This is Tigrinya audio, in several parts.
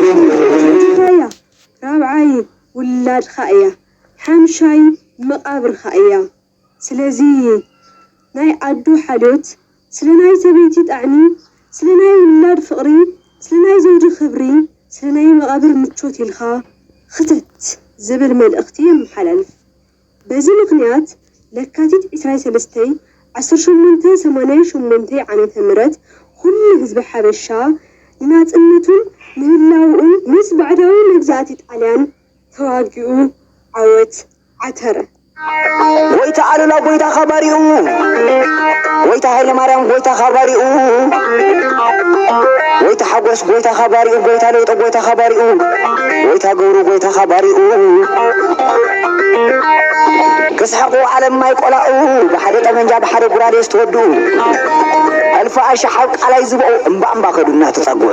መጀመርታያ ራብዓይ ውላድካ እያ ሓምሻይ መቃብርካ እያ ስለዚ ናይ ኣዶ ሓልዮት፣ ስለ ናይ ሰበይቲ ጣዕሚ፣ ስለ ናይ ውላድ ፍቕሪ፣ ስለ ናይ ዘውዲ ክብሪ፣ ስለ ናይ መቓብር ምቾት ኢልካ ኽተት ዝብል መልእኽቲ የመሓላልፍ። በዚ ምኽንያት ለካቲት ዕስራይ ሰለስተይ ዓሰርተ ሸሞንተ ሰማንያይ ሸሞንተይ ዓመተ ምህረት ኹሉ ህዝቢ ሓበሻ ንናጽነቱን ንህላውኡን ምስ ባዕዳዊ መግዛእቲ ጣልያን ተዋጊኡ ዓወት ዓተረ። ጎይታ ኣሉላ ጎይታኻ ባሪኡ ጎይታ ሃይለማርያም ጎይታኻ ባሪኡ ጎይታ ሓጎስ ጎይታኻ ባሪኡ ጎይታ ለውጦ ጎይታኻ ባሪኡ ጎይታ ገብሩ ጎይታኻ ባሪኡ ክስሕቁ ዓለም ማይ ቆላኡ ብሓደ ጠመንጃ ብሓደ ጉራዴ ዝተወድኡ ኣልፋ ኣሻሓብ ቃላይ ዝበኡ እምባ እምባ ከዱ እናተጸግዑ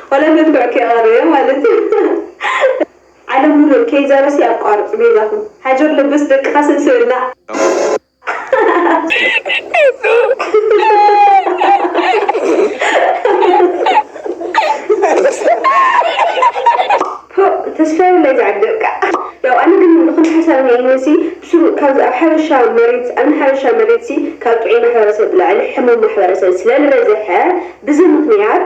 ዋላ መድኩዕ ከይቀረዮ ማለት እዩ። ዓለም ሙሉእ ኬይዛ ሩስያ ኣቋርጹ በይዛኹም። ሃጀር ለበስ ደቅኻ ስብስብና። ፖእ ተስፋይ ወላይ ዝዓደልካ ያው ኣነ ግን ብክንዲ ሓሳብ ሪኤኒ ሲ ብስሩ ካብዚ ኣብ ሓበሻ መሬት ኣብ ናይ ሓበሻ መሬት ሲ ካብ ጥዑይ ማሕበረሰብ ብላዕሊ ሕሙም ማሕበረሰብ ስለልበዘሐ ብዚ ምክንያት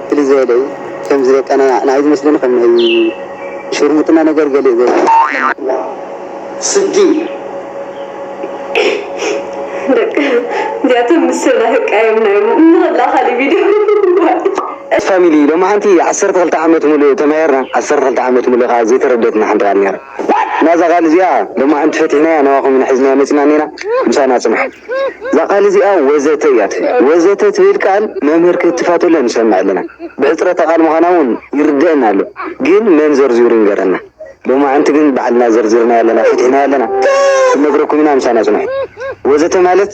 ፍልይ ዝበለ እዩ ከምዚ በቃ ናይ ንዓይ ዝመስለኒ ከም ናይ ሽርሙጥና ነገር ገሊኡ ዘይትፈልጥዎ ስዲ። ደቂ እዚኣቶም ምስ ሰብ ናተቃየምና ኢዮም እንክላ ካሊእ ቪድዮ ዋይ። ፋሚሊ ሎምዓንቲ ዓሰርተ ክልተ ዓመት ሙሉእ ተማሂርና ዓሰርተ ክልተ ዓመት ሙሉእ ከኣ ዘይተረደትና ሓንቲ ቃል ኔራ። ናዛ ቃል እዚኣ ድማ እንተፈቲሕናያ ናባኹም ኢና ሒዝናያ መጺእና እኔና ምሳና ጽንሑ። እዛ ቃል እዚኣ ወዘተ እያ ትብል። ወዘተ ትብል ቃል መምህር ክትፋተሎ ንሰምዕ ኣለና። ብሕጽረተ ቃል ምዃና እውን ይርደእና ኣሎ። ግን መን ዘርዚሩ ይንገረና። ሎማዕንቲ ግን ባዕልና ዘርዚርናያ ኣለና ፈቲሕናያ ኣለና። ክንነግረኩም ኢና ምሳና ጽንሑ። ወዘተ ማለት።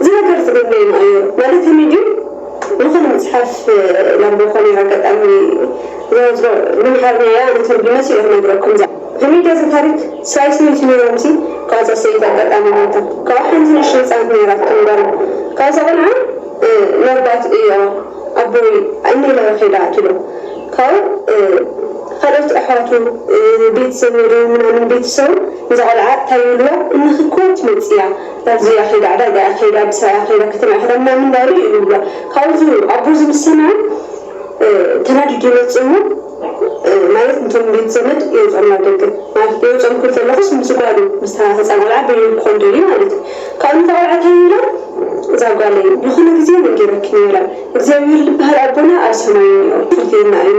እዚ ነገር ዝገበየና ኣዩ ማለት ከመይ ድዩ ልኾነ መጽሓፍ ለንቦ ኮነ ኣጋጣሚ ዝወዝዶ ብምሓርኛ ኣያ ኣነ ተርጉመ ሲ እየ ክነግረኩም እዛ ከመይ ድያ እዛ ታሪክ ሰብኣይ ሰበይቲ ነይሮም ሲ ካኣ እዛ ሰበይቲ ኣጋጣሚ ሞይታ ካኣ ሓንቲ ንእሽቶ ህጻን ነይራቶም ጋል ካኣ እዛ ቆልዓ ነርባት እዮ ኣቦይ እኒ ኢላዮ ከይዳ ትብሎ ካኡ ካልኦት ኣሕዋቱ ቤት ዘመዱ ምናምን ቤተሰቡ ንዛ ቆልዓ ታይ ይብልዋ እንክኮ ትመጽእ እያ እዚ ኣኼዳ ዕዳጋ ኣኼዳ ብሳይ ኣኼዳ ከተማ ይኽደና ምንባሩ እዩ ንብሎ ካብዚ ኣቦ እዚ ምስ ሰምዐ ተናዲዱ ይመጽእ እሞ ማለት ንቶም ቤት ዘመድ የውጾም ናብ ደገ ማለት የውጾም ክብል ዘለኹስ ምስ ጓሉ ምስታ ህጻን ቆልዓ በይኑ ክኾን ደልዩ ማለት እዩ ካብኡ ነታ ቆልዓ ታይ ይብላ እዛ ጓለይ ዝኾነ ግዜ ነጊረኪ ነይረ እግዚኣብሄር ልበሃል ኣቦና ኣብ ሰማይ እኒኦ ክፍርተየና እዩ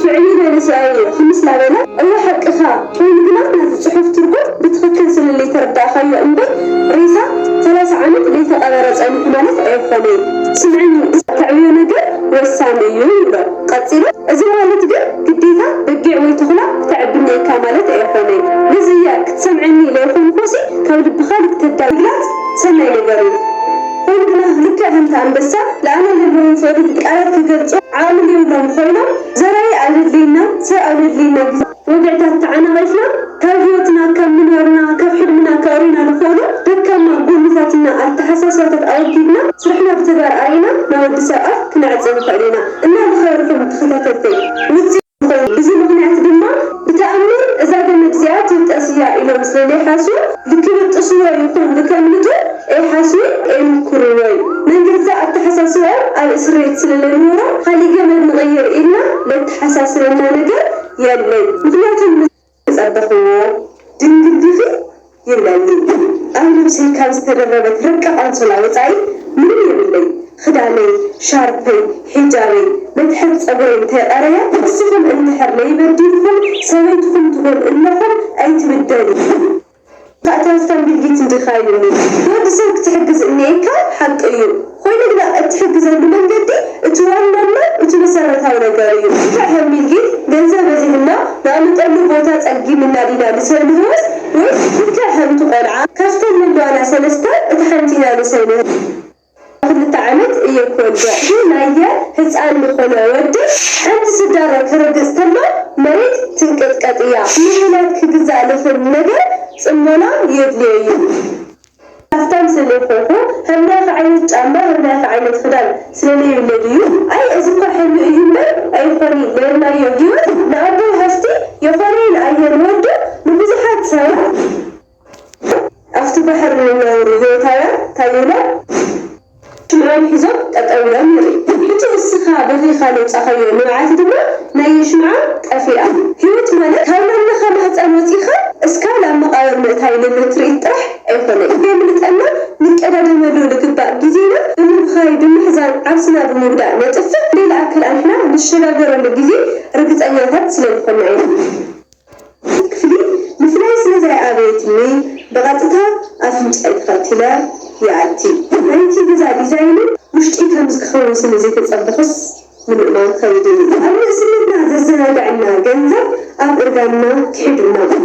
ትዕቢት መንእሰያይ እዩ ክምስ ናበለ እወ ሓቅኻ ኮይኑ ግና ናዚ ጽሑፍ ትርጉም ብትኽክል ስለለይተረዳእካዮ እምበይ ሬሳ ሰላሳ ዓመት ለይተቀበረ ጸኒሑ ማለት ኣይኾነይ ስምዕኒ ተዕብዮ ነገር ወሳኒ እዩ ይብሎ ቀጺሉ እዚ ማለት ግን ግዴታ በጊዕ ወይ ቶኽላ ክተዕቢ እኒኤካ ማለት ኣይኾነይ ነዚ እያ ክትሰምዕኒ ለይኾንኩሲ ካብ ልብኻ ልክተዳምግላጽ ሰናይ ነገር እዩ። ወልድና ልክዕ ከምቲ ኣንበሳ ልኣና ለለዎም ፍቕሪ ብቃላት ክገልጾ ዓቕሚ ልይብሎም ኾይኖም ዘራኢ ኣለድልይና ሰብ ኣለድልይና ብዙሕ ወግዕታት ተዓናቒፍና ካብ ህይወትና ከም ምንባርና ካብ ሕልምና ከእርዩና ልኽእሉ ደካማ ጎንታት እና ኣተሓሳስባታት ኣወጊድና ስራሕና ብተግባር ኣርኢና ናወዲ ሰብ ኣፍ ክነዕጽ ንኽእል ኢና እና ልኸበርኹም ተኸታተልተይ ውጽኢት ኮይኑ። ብዚ ምኽንያት ድማ ብተኣምር እዛ ገመድ እዚኣ ትብጠስ እያ ኢሎም ስለ ልይሓሱ ልክብጥስዎ ይኹን ልከምልጡ ኤይሓሱ ኤይምኩርዎይ። ነን ገዛእ ኣተሓሳስባኦም ኣብ እስርቤት ስለ ለንወሮም ኻሊእ ገመድ ንቕይር ኢልና ለተሓሳስበና ነገር የለይ። ምኽንያቱም ምስ። ጸበኽዎ ድንግል ዲኺ ይብለኒ ኣብ ነብሰይ ካብ ዝተደረበት ረቂቅ ኣንሶላ ወጻኢ ምንም የብለይ ኽዳነይ ሻርፐይ ሒጃበይ መትሐዚ ጸጉረይ እንተ ቀረየ ንስኹም እንድሕር ለይበዲልኩም ሰበይትኹም ትጎድእለኹም ኣይትብደሉ ታእታዎት ከም ቢልጊት እንዲኻ ኢሉኒ ንወዲ ሰብ ክትሕግዝ እንኤካ ሓቂ እዩ ኾይኑ ግና እትሕግዘሉ መንገዲ እቲ ዋናና እቲ መሰረታዊ ነገር እዩ እንተ ከም ቢልጊት ገንዘብ በዚሑና ንኣምጠሉ ቦታ ጸጊምና ዲና ንሰንህዎስ ወይስ ልክዕ ከምቲ ቆልዓ ካብተን ለለዋና ሰለስተ እታ ሓንቲ ኢና ንሰንህ ክልተ ዓመት እየ ክወልደ ኢላየ ህጻን ልኾነ ወዲ ሓንቲ ስዳሮ ክርግጽ ተሎ መሬት ትንቅጥቀጥ እያ ንውላድ ክግዛእ ልኽል ነገር ጽሞና የድልዮ እዩ ሃፍታም ስለይኮንኩ ሃምናይከ ዓይነት ጫማ ሃምናይከ ዓይነት ኽዳን ስለለይብለ ድዩ ኣይ እዚ እኳ ሕልሚ እዩ እምበር ኣይኾኒ ነርናዮ ሂወት ንኣቦይ ሃፍቲ የኾነይን ኣየ ንወዱ ንብዙሓት ሰባት ኣብቲ ባሕሪ ንነብሩ ህይወታውያን ታይ ኢሎም ሽምዖም ሒዞም ጠጠው ኢሎም ንርኢ ሕጂ እስኻ በኺኻ ለውጻኻዮ ንብዓት ድማ ናይ የሽምዓ ጠፊኣ ህይወት ማለት ካብ ናምነኻ ማህጸን ወጺእኻ እስካ ናብ መቃብር ምእታይ ልል ትርኢት ጥራሕ ኣይኮነይ ከየምልጠና ንቀዳደመሉ ልግባእ ግዜና ብምብኻይ ብምሕዛን ዓርስና ብምጉዳእ ነጥፍእ ሌላ ኣከል ኣንሕና ንሸጋገረሉ ግዜ ርግጸኛታት ስለልኾና ኢና። ክትፍሊ ምፍላይ ስለ ዘይኣበየትኒ ብቐጥታ ኣፍንጫይ ተኸቲለ ይኣቲ። ናይቲ ገዛ ዲዛይንን ውሽጢ ከምዚ ክኸውን ስለ ዘይተጸበኹስ ንምእማን ክኸይድን እዩ። ኣብ ንእስነትና ዘዘናግዐና ገንዘብ ኣብ እርጋንና ክሒዱና እዩ።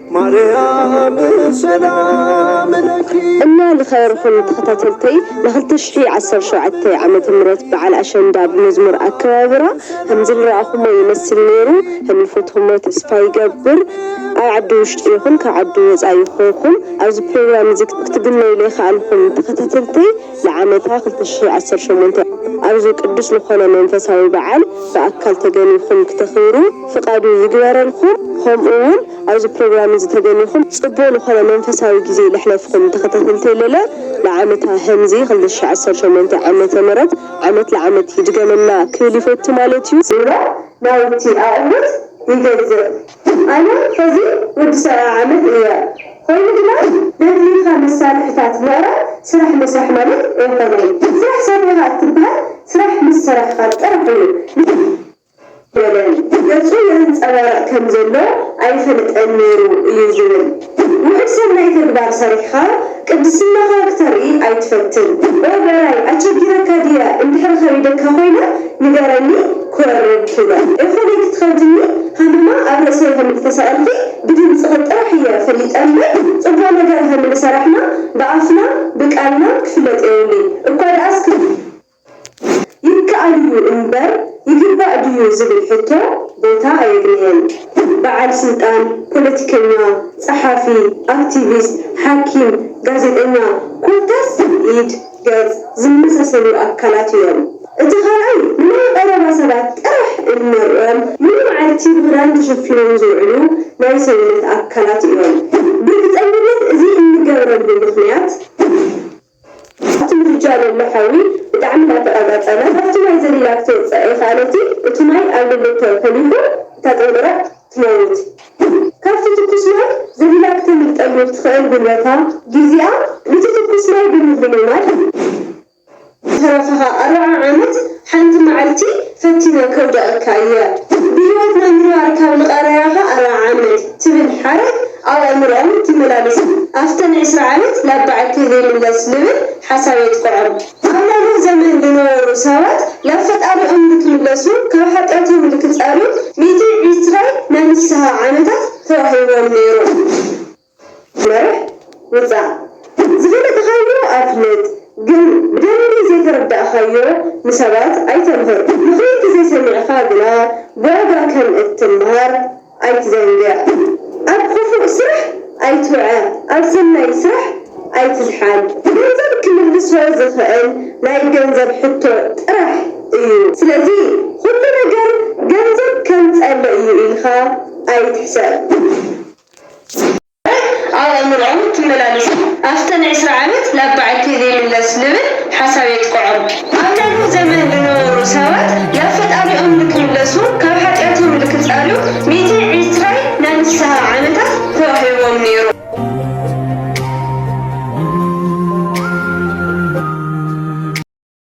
ማርያም ሰላም ለኪ። እና ልኸርኹም ተኸታተልተይ ንክልተ ሽሕይ ዓሰርተ ሸውዓተ ዓመተ ምህረት በዓል ኣሸንዳ ብመዝሙር ኣከባብራ ሀምዝልረኣኹሞ ይመስል ነይሩ ሀምልፈትኹሞ ተስፋ ይገብር ኣብ ዓዲ ውሽጢ ይኹን ካብ ዓዲ ወፃኢ ኾይኹም ኣብዚ ፕሮግራም እዚ ክትግነዩ ለይኸኣልኹም ተኸታተልተይ ንዓመታ ክልተ ሽሕ ዓሰርተ ሸሞንተ ኣብዚ ቅዱስ ልኾነ መንፈሳዊ በዓል ብኣካል ተገኒኹም ክተኽብሩ ፍቃዱ ይግበረልኩም ኸምኡ ውን ኣብዚ ፕሮግራም እዚ ተገኒኹም ጽቡቅ ልኾነ መንፈሳዊ ግዜ ለሕለፍኹም ተኸታተልተይ ለለ ልዓመታ ሀምዚ ክልተ ሽሕ ዓሰርተ ሸሞንተ ዓመተ ምረት ዓመት ልዓመት ይድገመልና ክብል ይፈቱ ማለት እዩ ዝብሎ ናውቲ ኣቅልት ይገዝእ። ኣነ ሕዚ ወዲ ሰብዓ ዓመት እየ ኾይኑ ግና ደድልዩካ መሳርሕታት ምዕራይ ስራሕ ምስራሕ ማለት ኣይኾነይ ስራሕ ሰሪሕኻ እትብሃል ስራሕ ምስ ሰራሕኻ ጥራሕ እዩ ንስራሕ በለን ገፁ የንፀባርቕ ከም ዘሎ ኣይፈልጠን ነይሩ እዩ ዝብል። ውሑድ ሰናይ ተግባር ሰሪሕኻ ቅድስናኻ ክተርኢ ኣይትፈትን። ኦይ በራይ ኣቸጊረካ ድየ እንድሕሪ ከቢደካ ኮይነ ንገረኒ ክወርድ ኪነ ኤፎነይ ክትከብድኒ ሃመማ ኣብ ርእሰይ ከም እተሰቀልኪ ብድምጽኺ ጥራሕ እየ ፈሊጠ እምበር ጽቡቅ ነገር ሀምልሰራሕና ብኣፍና ብቃልና ክፍለጥ የብሉይ እኳ ድኣስ ክብ ይከኣል እዩ እምበር ይግባእ ድዩ ዝብል ሕቶ ቦታ ኣየግነየን። በዓል ስልጣን፣ ፖለቲከኛ፣ ጸሓፊ፣ ኣክቲቪስት፣ ሓኪም፣ ጋዜጠኛ ኮታስ ኢድ፣ ገጽ ዝመሳሰሉ ኣካላት እዮም። እቲ ካልኣይ ንናይ ቐረባ ሰባት ጥራሕ እንርእዮም ሙሉ መዓልቲ ብኽዳን ተሸፊኖም ዝውዕሉ ናይ ሰውነት ኣካላት እዮም። ብርግጸኝነት እዚ እንገብረሉ ምኽንያት፣ ኣብቲ ምድጃ ለሎ ሓዊ ብጣዕሚ ናተቃጻጸለ ካብቲ ማይ ዘሊላ ክትወጽእ ኣይከኣለቲ እቲ ማይ ኣብ ልሊ ተኮሊፉ እታ ጥንቁረዕ ትመውት ግን ካብቲ ትኩስ ማይ ዘሊላ ክተምልጠሉ እትክእል ጉልበታ ጊዚኣ ንቲ ትኩስ ማይ ብምልምማድ ዝትረፈካ ኣርባዓ ዓመት ሓንቲ መዓልቲ ፈቲነ ከውድቐካ እየ። ብህይወት ናይ ምንባር ካብ ልቐረያኻ ኣርብዓ ዓመት ትብል ሓረግ ኣብ ኣእምሮኦም ትመላለስ። ኣፍተን ዕስራ ዓመት ናብ በዓልቲ ዘይምለስ ልብል ሓሳብ የጥቅዖም። ኣብ ናይ ኖህ ዘመን ልነበሩ ሰባት ላብ ፈጣሪኦም ልክምለሱ ካብ ሓጢኣቶም ልክጸርዩ ሚእቲ ዕስራ ናይ ንስሃ ዓመታት ተዋሂብዎም ነይሩ። መርሕ ውጻእ ትብል ዝፈለጥኻዮ ኣፍልጥ ግን ብደንቢ ዘይተረዳእካዮ ንሰባት ኣይተምህር ምኽሪ ተዘይሰሚዕኻ ግና ብዋጋ ከም እትምሃር ኣይትዘንግዕ ኣብ ኹፉእ ስራሕ ኣይትውዐ ኣብ ሰናይ ስራሕ ኣይትዝሓል ገንዘብ ክምልሶ ዝኽእል ናይ ገንዘብ ሕቶ ጥራሕ እዩ ስለዚ ኹሉ ነገር ገንዘብ ከምጸሎ እዩ ኢልኻ ኣይትሕሰብ። ኣብ ኣእምሮኦም ትመላለሱ። ኣፍተን ዕስራ ዓመት ናብ በዓልቲ ዘይምለስ ልብል ሓሳብ የጥቅዖም። ኣብ ናይ ኖህ ዘመን ልነበሩ ሰባት ናብ ፈጣሪኦም ልክምለሱ ካብ ሓጢኣቶም ልክጻርዩ ሚእቲ ዕስራይ ናይ ንስሃ ዓመታት ተዋሂብዎም ነይሩ።